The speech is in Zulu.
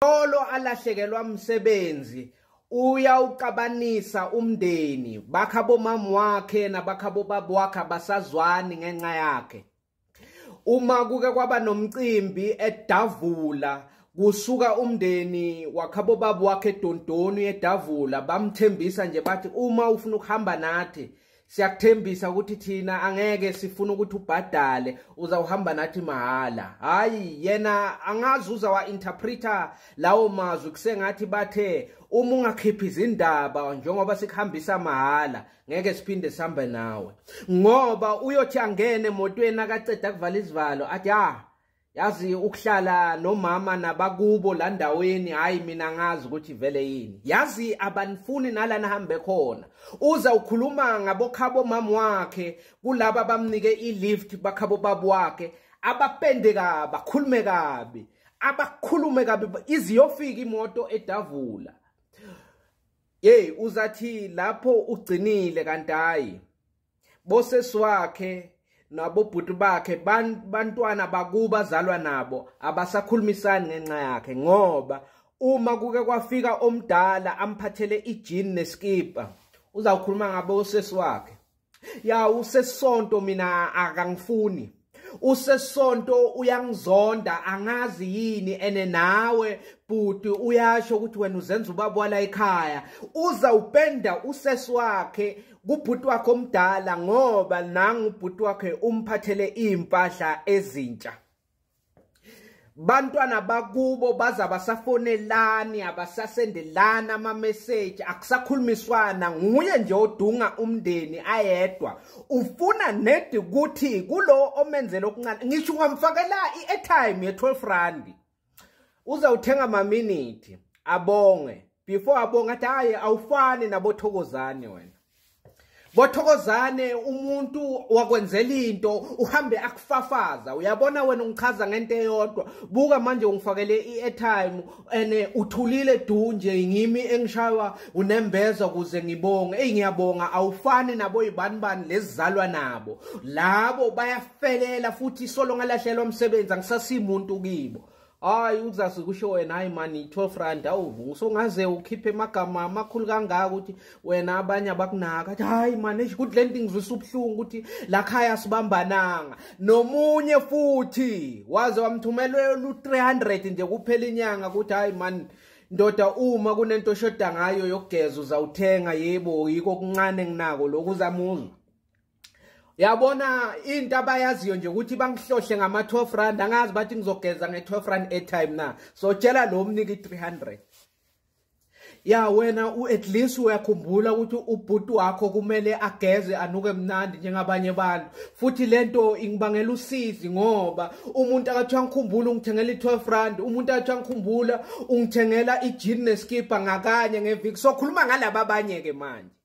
Solo alahlekelwa umsebenzi uyawuqabanisa umndeni bakha bomama wakhe nabakha bobaba wakhe abasazwani ngenxa yakhe uma kuke kwaba nomcimbi edavula kusuka umndeni wakhabo baba wakhe edondoni edavula bamthembisa nje bathi uma ufuna ukuhamba nathi siyakuthembisa ukuthi thina angeke sifuna ukuthi ubhadale uzawuhamba nathi mahhala hhayi yena angazi uza wa-interpreta lawo mazwi kusengathi bathe uma ungakhiphi izindaba njengoba sikuhambisa mahhala ngeke siphinde sihambe nawe ngoba uyothi angene emotweni akaceda kuvala izivalo athi ah yazi ukuhlala nomama nabakubo la ndaweni hhayi mina ngazi ukuthi vele yini yazi abanifuni nala nihambe khona uza ukhuluma ngabokhabo mama wakhe kulaba abamnike i-lift bakhabo babu wakhe abapende kabi bakhulume kabi abakhulume kabi iziyofika imoto edavula yeyi uzathi lapho ugcinile kanti hhayi bosesi wakhe nabobhuti bakhe bantwana bakuba zalwa nabo abasakhulumisani ngenxa yakhe ngoba uma kuke kwafika omdala amphathele ijini neskipa uzawukhuluma ngabo usesi wakhe ya usesonto mina akangifuni usesonto uyangizonda angazi yini ene nawe bhuti uyasho ukuthi wena uzenza ubaba wala ekhaya uza upenda usesi wakhe kubhuti wakhe omdala ngoba nangu ubhuti wakhe umphathele impahla ezintsha bantwana bakubo baza basafonelani abasasendelani amameseji akusakhulumiswana nguye nje odunga umndeni ayedwa ufuna nedi ukuthi kulo omenzela okuncane ngisho ungamfakela i-airtime ye-12 randi uze uthenga maminithi abonge before abonge athi hhayi awufani nabothokozane wena Bothokozane umuntu wakwenzela into uhambe akufafaza uyabona wena ungichaza ngento eyodwa buka manje ungifakele i-airtime ene eh, uthulile du nje ngimi engishaywa unembeza kuze ngibonge eyi ngiyabonga awufani nabo yibani bani lezizalwa nabo labo bayafelela futhi solo ngalahlelwa umsebenzi angisasimuntu kibo hayi uzazi kusho wena hayi mani 12 rand awu songaze ukhiphe amagama amakhulu kangaka ukuthi wena abanye abakunaka athi hayi mani eish good landing ngizwisa ubuhlungu ukuthi la khaya sibambananga nomunye futhi waze wamthumelela lu 300 nje kuphela inyanga ukuthi hayi mani ndoda uma kunento oshoda ngayo yokugeza uzawuthenga yebo yiko kuncane nginako lokhu uzamuzwa yabona into abayaziyo nje ukuthi bangihlohle ngama-12 rand angazi bathi ngizogeza nge-12 rand airtime na so tshela lo mnike i-300 ya wena at least uyakhumbula ukuthi ubhuti wakho kumele ageze anuke mnandi njengabanye abantu futhi lento ingibangela usizi ngoba umuntu akathiwa ngikhumbula ungithengela i-12 rand umuntu akathiwa ngikhumbula ungithengela i-jean neskipha ngakanye ngeviki sokhuluma ngalaba abanye-ke manje